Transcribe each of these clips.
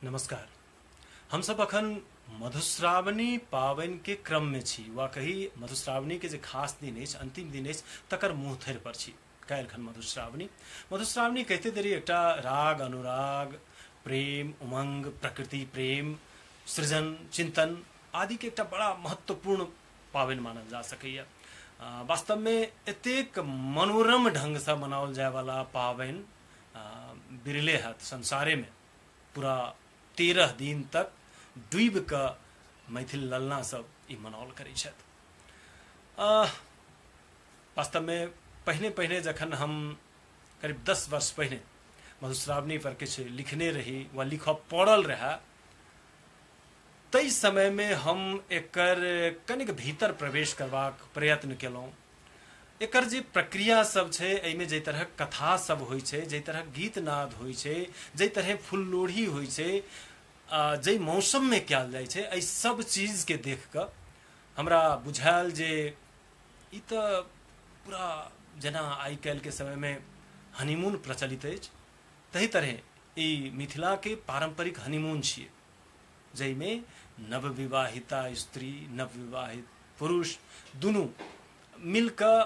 नमस्कार हम सब अखन मधुश्रावणी पावनि के क्रम में छी वा कही मधुश्रावणी के जे खास दिन अछि अंतिम दिन अछि तकर मुँह थर पर छी काल्हि खन मधुश्रावणी मधुश्रावणी कहते देरी एकटा राग अनुराग प्रेम उमंग प्रकृति प्रेम सृजन चिंतन आदि के एकटा बड़ा महत्वपूर्ण पावनि मानल जा सकैया वास्तव में एतेक मनोरम ढंग से मनाओल जाय वाला पावनि बिरले हत संसारे में पूरा तेरह दिन तक डूब के मैथिल ललना सब ई मनाओल करै छथि वास्तव में पहिने पहिने जखन हम करीब दस वर्ष पहिने मधुश्रावणी पर किछु लिखने रही वा लिख पड़ल रहा तई समय में हम एक कनिक भीतर प्रवेश करवा प्रयत्न कलौं एकर जे प्रक्रिया सब छै एहिमे जाहि तरहक कथा सब होइ छै जाहि तरहक गीत नाद होइ छै जाहि तरहे फूल लोढ़ी होइ छै जाहि मौसममे कयल जाइ छै एहि सब चीजके देख कऽ हमरा बुझायल जे ई तऽ पूरा जेना आइ काल्हिके समयमे हनीमून प्रचलित अछि ताहि तरहे ई मिथिलाके पारम्परिक हनीमून छियै जाहिमे नवविवाहिता स्त्री नवविवाहित पुरुष दुनू मिलकऽ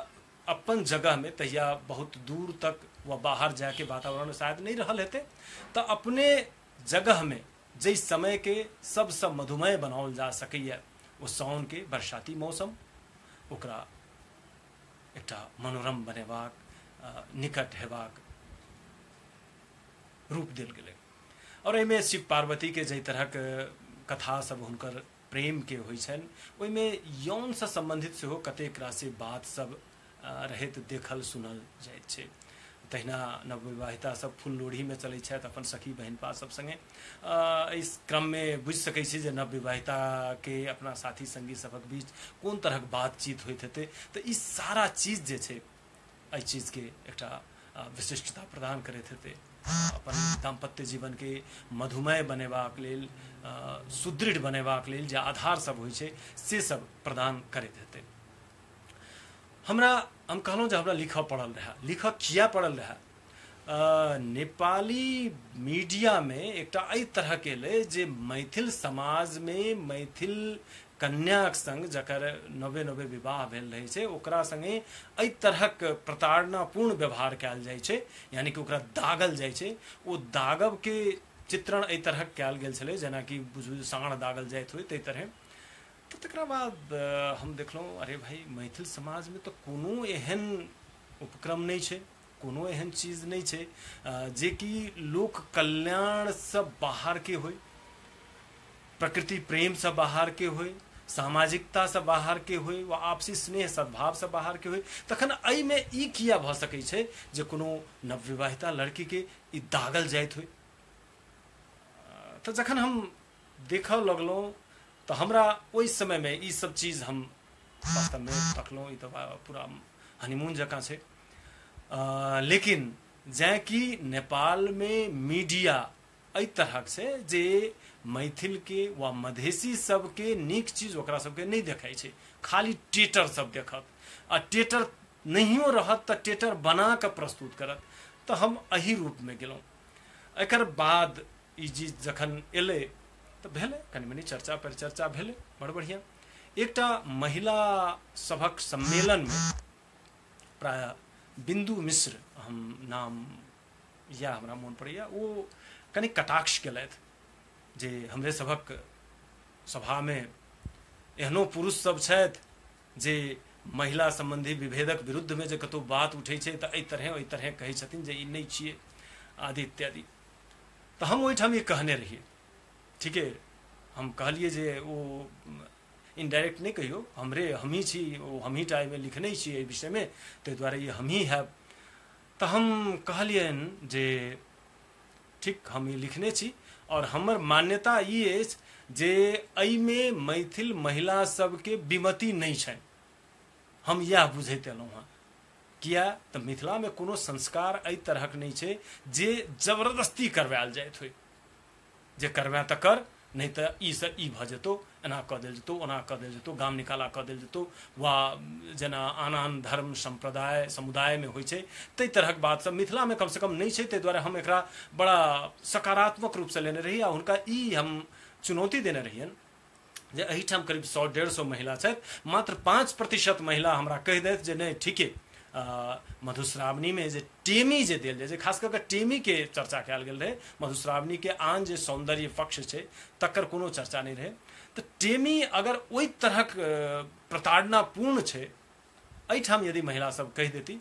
अपन जगहमे तहिया बहुत दूर तक वा बाहर जायके वातावरण शायद नहि रहल हेतै तऽ अपने जगहमे जाहि समयके सबसँ मधुमय बनाओल जा सकैए ओ साउनके बरसाती मौसम ओकरा एकटा मनोरम बनेबाक निकट हेबाक रूप देल गेलै आओर एहिमे शिव पार्वतीके जाहि तरहक कथा सब हुनकर प्रेमके होइ छनि ओहिमे यौनसँ सम्बन्धित सेहो कतेक राशि बात सब रहैत देखल सुनल जाइत छै तहिना नवविवाहिता सब फूल लोढ़ीमे चलै छथि अपन सखी बहिनपा सब सङ्गे एहि क्रममे बुझि सकै छी जे नवविवाहिताके अपना साथी सङ्गी सभक बीच कोन तरहक बातचीत होइत हेतै तऽ ई सारा चीज जे छै एहि चीजके एकटा विशिष्टता प्रदान करैत हेतै अपन दाम्पत्य जीवनके मधुमय बनेबाक लेल सुदृढ़ बनेबाक लेल जे आधार सब होइ छै से सब प्रदान करैत हेतै हमरा हम कहलहुँ जे हमरा लिखऽ पड़ल रहए लिखऽ किया पड़ल रहए नेपाली मीडियामे एकटा एहि तरहके एलै जे मैथिल समाजमे मैथिल कन्याक संग जकर नवे नवे विवाह भेल रहै छै ओकरा संगे एहि तरहक प्रताड़नापूर्ण व्यवहार कयल जाइ छै यानी कि ओकरा दागल जाइ छै ओ दागबके चित्रण एहि तरहक कयल गेल छलै जेनाकि बुझू साँढ़ दागल जाइत होय ताहि तरहे तऽ तकरा बाद हम देखलहुँ अरे भाई मैथिल समाजमे तऽ कोनो एहन उपक्रम नहि छै कोनो एहन चीज नहि छै जेकि लोक कल्याणसँ बाहरके होइ प्रकृति प्रेमसँ बाहरके होइ सामाजिकतासँ बाहरके होइ वा आपसी स्नेह सद्भावसँ बाहरके होइ तखन एहिमे ई किया भऽ सकैत छै जे कोनो नवविवाहिता लड़कीके ई दागल जाइत होइ तऽ जखन हम देखऽ लगलहुँ तऽ हमरा ओहि समयमे ई सब चीज हम वास्तवमे तकलहुँ ई तऽ पूरा हनीमून जकाँ छै लेकिन जै कि नेपाल में मीडिया एहि तरहक से जे मैथिल के वा मधेसी सबके नीक चीज ओकरा सबके नहीं देखै छै खाली टेटर सब देखत आ टेटर नहियो रहत तऽ टेटर बना के प्रस्तुत करत तऽ हम एहि रूप में गेलहुँ एकर बाद ई चीज जखन एलै तऽ भेलै कनि मनी चर्चा परिचर्चा भेलै बड़ बढ़िया एकटा महिला सभक सम्मेलन में प्रायः बिन्दु मिश्र हम नाम इएह हमरा मोन पड़ैए ओ कनि कटाक्ष केलथि जे हमरे सभक सभामे एहनो पुरुषसभ छथि जे महिला सम्बन्धी विभेदक विरुद्धमे जे कतहु बात उठै छै तऽ एहि तरहेँ ओहि तरहेँ कहै छथिन जे ई नहि छियै आदि इत्यादि तऽ हम ओहिठाम ई कहने रहियै ठीके हम कहलियै जे ओ इनडायरेक्ट नहि कहियौ हमरे हमही छी ओ हमही टा एहिमे लिखने छी एहि विषयमे ताहि दुआरे ई हमही हैब तऽ हम कहलियनि जे ठीक हम ई लिखने छी आओर हमर मान्यता ई अछि जे एहिमे मैथिल महिला सबके विमति नहि छनि हम इएह बुझैत एलहुँ हँ किया तऽ मिथिलामे कोनो संस्कार एहि तरहक नहि छै जे जबरदस्ती करवायल जाइत होइ जे करबेँ तऽ कर नहि तऽ ई से ई भऽ जेतौ एना कऽ देल जेतौ ओना कऽ देल जेतौ गाम निकाला कऽ देल जेतौ वा जेना आन आन धर्म सम्प्रदाय समुदायमे होइ छै ताहि तरहक बात सब मिथिलामे कमसँ कम नहि छै ताहि दुआरे हम एकरा बड़ा सकारात्मक रूपसँ लेने रही आ हुनका ई हम चुनौती देने रहियनि जे एहिठाम करीब सौ डेढ़ सौ महिला छथि मात्र पाँच प्रतिशत महिला हमरा कहि देथि जे नहि ठीके मधुश्रावणीमे जे टेमी जे देल जाइ छै खास कऽ कऽ टेमीके चर्चा कयल गेल रहै मधुश्रावणीके आन जे सौन्दर्य पक्ष छै तकर कोनो चर्चा नहि रहै तऽ टेमी अगर ओहि तरहक प्रताड़नापूर्ण छै एहिठाम यदि महिलासभ कहि देती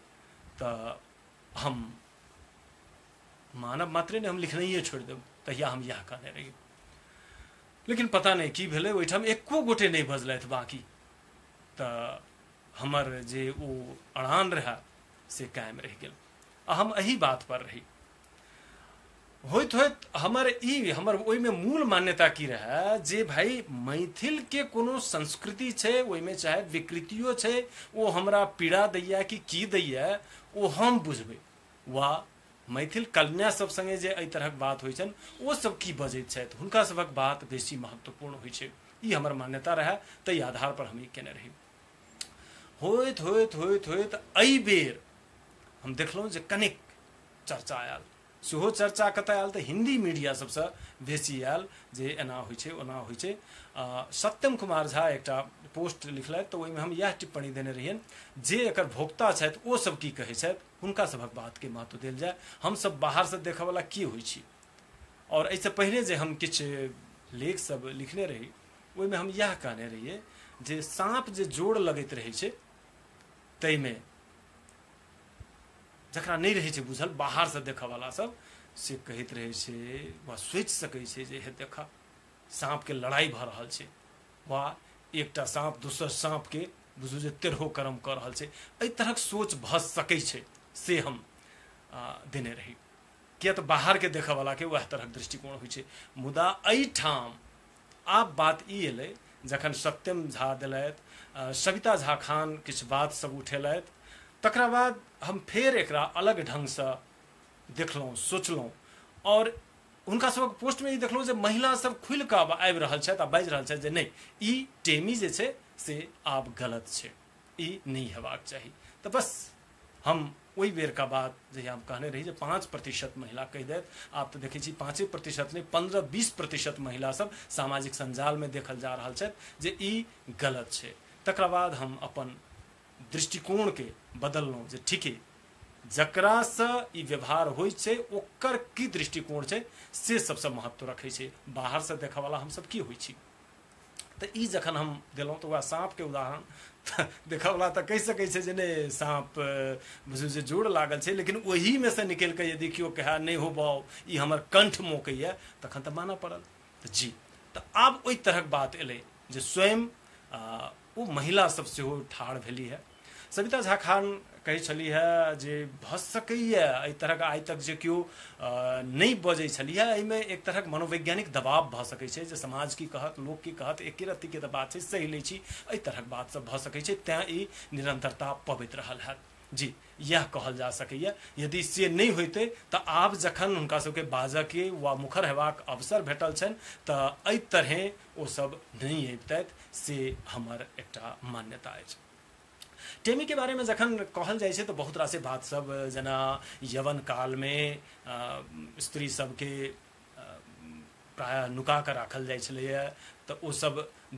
तऽ हम मानव मात्रे ने हम लिखनाइए छोड़ि देब तहिया हम इएह कहने रही लेकिन पता नहि की भेलै ओहिठाम एको गोटे नहि बजलथि बाँकी तऽ हमर जे ओ अड़ान रहए से कायम रहि गेल आ हम एहि बात पर रही होइत होइत हमर ई हमर ओहिमे मूल मान्यता की रहए जे भाई मैथिलके कोनो संस्कृति छै ओहिमे चाहे विकृतियो छै ओ हमरा पीड़ा दैए कि की दैए ओ हम बुझबै वा मैथिल कन्या सब संगे जे एहि तरहक बात होइ छन ओ सब की बजैत छथि हुनका सबक बात बेसी महत्वपूर्ण होइ छै ई हमर मान्यता रहै ताहि आधार पर हम ई केने रही होइत होइत होइत होइत एहि बेर हम देखलहुँ जे कनिक चर्चा आयल सेहो चर्चा कतय आयल तऽ हिन्दी मीडिया सबसँ बेसी आयल जे एना होइ छै ओना होइ छै सत्यम कुमार झा एकटा पोस्ट लिखलथि तऽ ओहिमे हम इएह टिप्पणी देने रहियनि जे एकर भोक्ता छथि ओ सब की कहै छथि हुनका सभक बातके महत्व देल जाय हमसभ बाहरसँ देखयवला की होइत छी आओर एहिसँ पहिने जे हम किछु लेखसभ लिखने रही ओहिमे हम इएह कहने रहियै जे साँप जे जोड़ लगैत रहै छै ताहिमे जकरा नहि रहै छै बुझल बाहरसँ देखयवला सभ से कहैत रहै छै वा सोचि सकै छै जे हे देखह साँपके लड़ाइ भऽ रहल छै वा एकटा साँप दोसर साँपके बुझू जे तेरहो कर्म कऽ रहल छै एहि तरहक सोच भऽ सकै छै से हम देने रही किए तऽ बाहरके देखऽवलाके उएह तरहक दृष्टिकोण होइ छै मुदा एहिठाम आब बात ई एलै जखन सत्यम झा देलथि सविता झा खान किछु बात सब उठेलथि तकरा बाद हम फेर एकरा अलग ढङ्गसँ देखलहुँ सोचलहुँ आओर हुनका सबक पोस्टमे ई देखलहुँ जे महिला सब खुलि कऽ आब आबि रहल छथि आ बाजि रहल छथि जे नहि ई टेमी जे छै से आब गलत छै ई नहि हेबाक चाही तऽ बस हम ओहि बेरका बात जहिया हम कहने रही जे पाँच प्रतिशत महिला कहि देत आब तऽ देखै छी पाँचे प्रतिशत नहि पन्द्रह बीस प्रतिशत महिला सब सामाजिक सञ्जालमे देखल जा रहल छथि जे ई गलत छै तकरा बाद हम अपन दृष्टिकोण के बदललहुँ जे ठीके जकरासँ ई व्यवहार होइ छै ओकर की दृष्टिकोण छै से सबसँ महत्व रखै छै बाहरसँ देखऽवला हमसब की होइ छी तऽ ई जखन हम देलहुँ तऽ वएह साँपके उदाहरण तऽ देखऽवला तऽ कहि सकै छै जे नहि साँप बुझू जे जोर लागल छै लेकिन ओहिमे से निकलि कऽ यदि केओ कहै नहि हो बाउ ई हमर कंठ मोकैए तखन तऽ मानऽ पड़ल तऽ जी तऽ आब ओहि तरहक बात एलै जे स्वयं ओ महिला सब सेहो ठाढ़ भेली है सविता झा खान कहै छली है जे भऽ सकैए एहि तरहक आइ तक जे केओ नहि बजै छली है एहिमे एक तरहक मनोवैज्ञानिक दबाव भऽ सकै छै जे समाज की कहत लोक की कहत एके रत्तीके तऽ बात छै सही लै छी एहि तरहक बात सब भऽ सकै छै तैँ ई निरंतरता पबैत रहल है जी इएह कहल जा सकैए यदि से नहि होइतै तऽ आब जखन हुनका सभके बाजऽके वा मुखर हेबाक अवसर भेटल छनि तऽ एहि तरहेँ ओसभ नहि अबितथि से हमर एकटा मान्यता अछि टेमीके बारेमे जखन कहल जाइ छै तऽ बहुत रासे बातसभ जेना यवन कालमे स्त्री सभके प्रायः नुका कऽ राखल जाइ छलैए तऽ ओसभ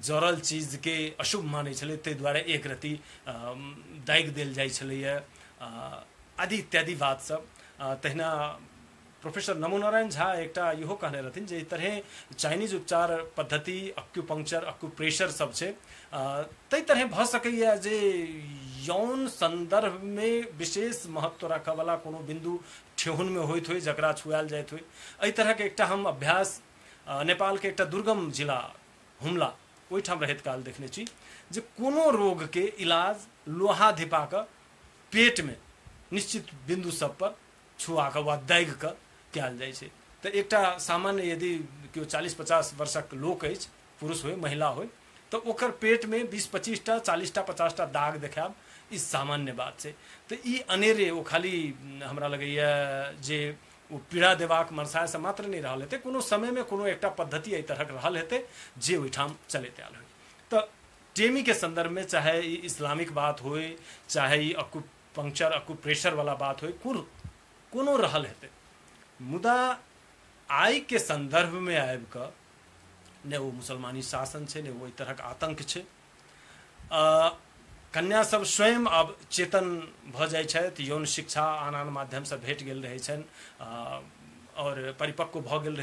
जड़ल चीजके अशुभ मानै छलै ताहि दुआरे एक रत्ती दागि देल जाइ छलैए आदि इत्यादि बातसभ तहिना प्रोफेसर नमो नारायण झा एकटा इहो कहने रहथिन जे एहि तरहेँ चाइनीज उपचार पद्धति अक्यूपंक्चर अक्यूप्रेशर सब छै ताहि तरहेँ भऽ सकैए जे यौन सन्दर्भमे विशेष महत्व राखयवला कोनो बिन्दु ठेहुनमे होइत होइ जकरा छुआएल जाइत होइ एहि तरहके एकटा हम अभ्यास नेपालके एकटा दुर्गम जिला हुमला ओहिठाम रहैत काल देखने छी जे कोनो रोगके इलाज लोहा धिपाकऽ पेटमे निश्चित बिन्दु सबपर छुआकऽ वा दागिकऽ कयल जाइ छै तऽ एकटा सामान्य यदि केओ चालीस पचास वर्षक लोक अछि पुरुष हो महिला हो तो ओकर पेट में बीस पच्चीस टा चालीस टा पचास टा दाग देखाब ई सामान्य बात छै तो ई अनेरे ओ खाली हमरा लगैए जे ओ पीड़ा देबाक मनसायसँ मात्र नहि रहल हेतै कोनो समयमे कोनो एकटा पद्धति एहि तरहक रहल हेतै जे ओहिठाम चलैत आयल होय तऽ टेमीके सन्दर्भमे चाहे ई इस्लामिक बात होय चाहे ई अकु पंक्चर अकु प्रेशरवला बात होय कुर कोनो रहल हेतै मुदा आइके सन्दर्भमे आबि कऽ नहि ओ मुसलमानी शासन छै नहि ओ एहि तरहक आतंक छै कन्या सब स्वयं अब चेतन भऽ जाइ छथि यौन शिक्षा आन आन माध्यमसँ भेट गेल रहै छनि आओर परिपक्व भऽ गेल रहै